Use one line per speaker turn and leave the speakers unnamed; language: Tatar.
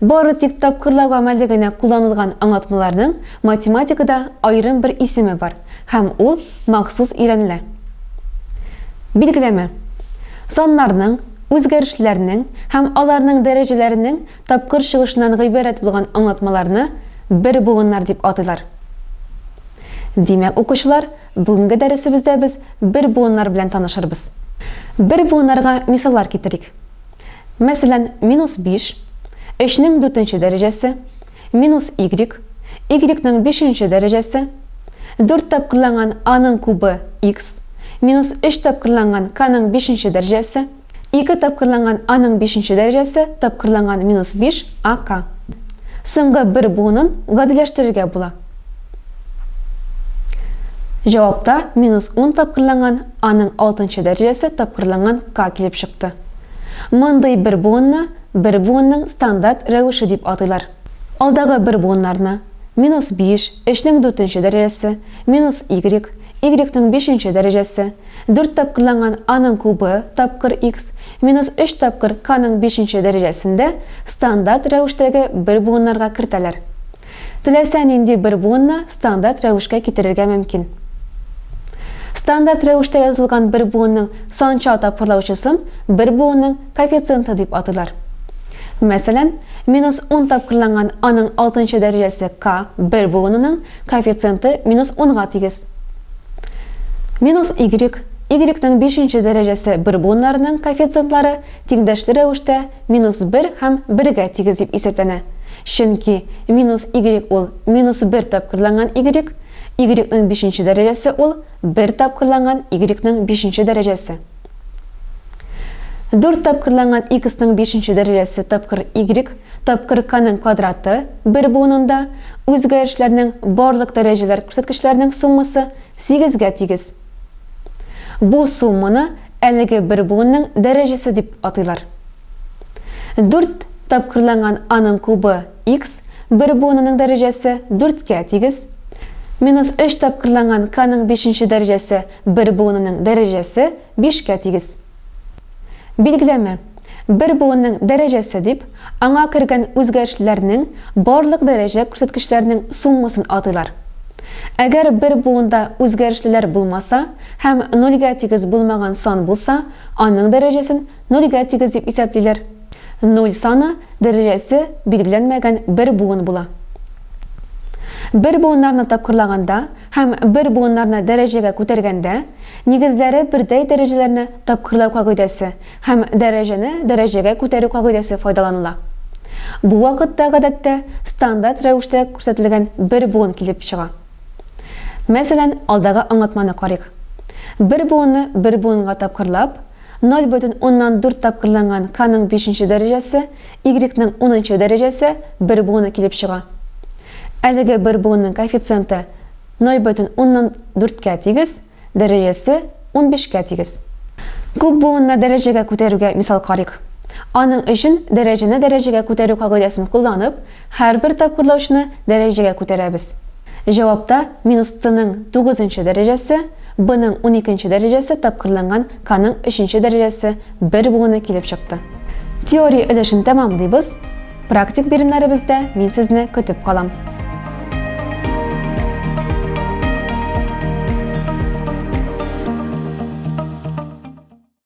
Бары тик тапкырлау гамәле генә кулланылган аңлатмаларның математикада аерым бер исеме бар, һәм ул махсус өйрәнелә. Билгеләмә. Саннарның, үзгәрешләрнең һәм аларның дәрәҗәләренең тапкыр чыгышыннан гыйбарәт булган аңлатмаларны бер буыннар дип атыйлар. Димәк, укучылар, бүгенге дәресебездә без бер буыннар белән танышырбыз. Бер буыннарга мисаллар китерик. Мәсәлән, минус биш, өчнең дүртенче дәрәҗәсе, минус игрек, игрекның бишенче дәрәҗәсе, дүрт тапкырланган аның кубы, икс, минус өч тапкырланган каның бишенче дәрәҗәсе, ике тапкырланган аның бишенче дәрәҗәсе тапкырланган минус биш, а к. Соңгы бер буынын гадиләштерергә була. Җавапта минус 10 тапкырланган А-ның алтынчы дәрәҗәсе тапкырланган К килеп чыкты. Мондый бер буынны бер буынның стандарт рәвеше дип атыйлар. Алдагы бер буыннарны, минус 5, 3-нең дүртенче дәрәҗәсе, минус Y, Y-ның бишенче дәрәҗәсе, дүрт тапкырланган А-ның кубы тапкыр X, минус 3 тапкыр К-ның бишенче дәрәҗәсендә стандарт рәвештәге бер буыннарга кертәләр. Теләсә нинди бер буынны стандарт рәвешкә китерергә мөмкин. Стандарт рәвештә язылган бер буынның санча тапкырлаучысын бер буынның коэффициенты дип атыйлар. Мәсәлән, минус 10 тапкырланган аның алтынчы дәрәҗәсе К бер буынының коэффициенты минус 10 га тигез. Минус Y, Y-ның бишенче дәрәҗәсе бер буыннарының коэффициентлары тиңдәшле рәвештә минус бер һәм бергә тигез дип исәпләнә, чөнки минус игрек ул минус бер тапкырланган игрек, игрекның бишенче дәрәҗәсе ул бер тапкырланган игрекның бишенче дәрәҗәсе. Дүрт тапкырланган иксның бишенче дәрәҗәсе тапкыр игрек тапкыр каның квадраты бер буынында үзгәрешләрнең барлык дәрәҗәләр күрсәткечләренең суммасы сигезгә тигез. Бу сумманы әлеге бер буынның дәрәҗәсе дип атыйлар. Дүрт тапкырланган аның кубы, x, бер буынының дәрәҗәсе дүрткә тигез, минус өч тапкырланган k-ның бишенче дәрәҗәсе бер буынының дәрәҗәсе бишкә тигез. Билгеләмә, бер буынның дәрәҗәсе дип, аңа кергән үзгәрешләрнең барлык дәрәҗә күрсәткечләренең суммасын атыйлар. Әгәр бер буында үзгәрешлеләр булмаса һәм нольгә тигез булмаган сан булса, аның дәрәҗәсен нольгә тигез дип исәплиләр. Нуль саны дәрәҗәсе билгеләнмәгән бер буын була. Бер буыннарны тапкырлаганда, Һәм бер буыннарны дәрәҗәгә күтәргәндә, нигезләре бердәй дәрәҗәләрне тапкырлау кагыйдәсе һәм дәрәҗәне дәрәҗәгә күтәрү кагыйдәсе файдаланыла. Бу вакытта, гадәттә, стандарт рәвештә күрсәтелгән бер буын килеп чыга. Мәсәлән, алдагы аңлатманы карыйк. Бер буынны бер буынга тапкырлап, ноль бөтен уннан дүрт тапкырланган k-ның бишенче дәрәҗәсе Y-ның унынчы дәрәҗәсе бер буыны килеп чыга. Әлеге бер буынның коэффициенты 0 бөтен уннан дүрткә тигез, дәрәҗәсе унбишкә тигез. Күп буынны дәрәҗәгә күтәрүгә мисал карыйк. Аның өчен дәрәҗәне дәрәҗәгә күтәрү кагыйдәсен кулланып, Һәрбер тапкырлаучны дәрәҗәгә күтәрәбез. Җавапта минус Т-ның тугызынчы дәрәҗәсе, Б-ның уникенче дәрәҗәсе тапкырланган К-ның өченче дәрәҗәсе бер буыны килеп чыкты. Теория өлешен тәмамлыйбыз, практик биремнәребездә мин сезне көтеп калам.